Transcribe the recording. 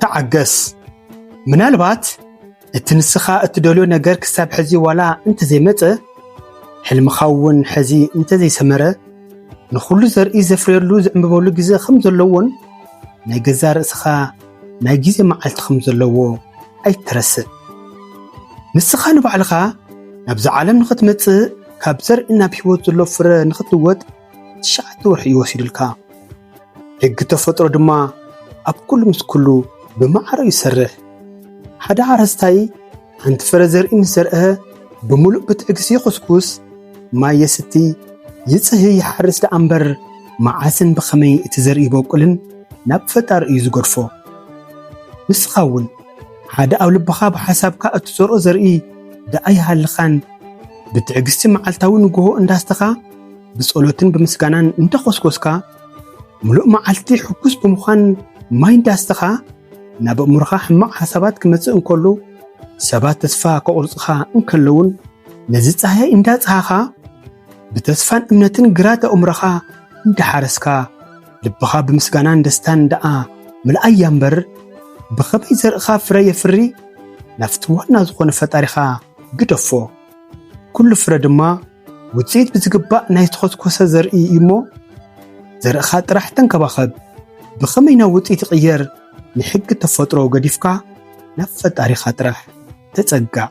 ተዓገስ ምናልባት እቲ ንስኻ እትደልዮ ነገር ክሳብ ሕዚ ዋላ እንተዘይመፀ ሕልምኻ እውን ሕዚ እንተዘይሰመረ ንኹሉ ዘርኢ ዘፍርየሉ ዝዕምበበሉ ግዜ ከም ዘለዎን ናይ ገዛ ርእስኻ ናይ ግዜ መዓልቲ ከም ዘለዎ ኣይትረስእ። ንስኻ ንባዕልኻ ናብዚ ዓለም ንኽትመፅእ ካብ ዘርኢ ናብ ህይወት ዘሎ ፍረ ንኽትልወጥ ትሽዓተ ወርሒ እዩ ወሲዱልካ። ሕጊ ተፈጥሮ ድማ ኣብ ኩሉ ምስ ኩሉ ብማዕረኡ ይሰርሕ። ሓደ ሓረስታይ ሓንቲ ፍረ ዘርኢ ምስ ዘርአ ብምሉእ ብትዕግስቲ ይኹስኩስ፣ ማይ የስቲ፣ ይጽህ፣ ይሓርስ ደኣ እምበር መዓስን ብኸመይ እቲ ዘርኢ ይበቁልን ናብ ፈጣሪ እዩ ዝገድፎ። ንስኻ እውን ሓደ ኣብ ልብኻ ብሓሳብካ እትዘርኦ ዘርኢ ደኣ ይሃልኻን ብትዕግስቲ መዓልታዊ ንግሆ እንዳስተኻ ብጸሎትን ብምስጋናን እንተኾስኮስካ ምሉእ መዓልቲ ሕጉስ ብምዃን ማይ እንዳስተኻ ናብ ኣእምሮኻ ሕማቕ ሓሳባት ክመጽእ እንከሎ ሰባት ተስፋ ከቑርጽኻ እንከለውን ነዚ ጻህያይ እንዳጸሃኻ ብተስፋን እምነትን ግራት ኣእምሮኻ እንዳሓረስካ ልብኻ ብምስጋናን ደስታን ደኣ ምልኣያ እምበር ብኸመይ ዘርእኻ ፍረ የፍሪ ናብቲ ዋና ዝኾነ ፈጣሪኻ ግደፎ ኩሉ ፍረ ድማ ውፅኢት ብዝግባእ ናይ ዝተኾትኮሰ ዘርኢ እዩሞ ዘርእኻ ጥራሕ ተንከባኸብ። ብኸመይ ናብ ውፅኢት ይቕየር ንሕጊ ተፈጥሮ ገዲፍካ ናብ ፈጣሪኻ ጥራሕ ተፀጋዕ።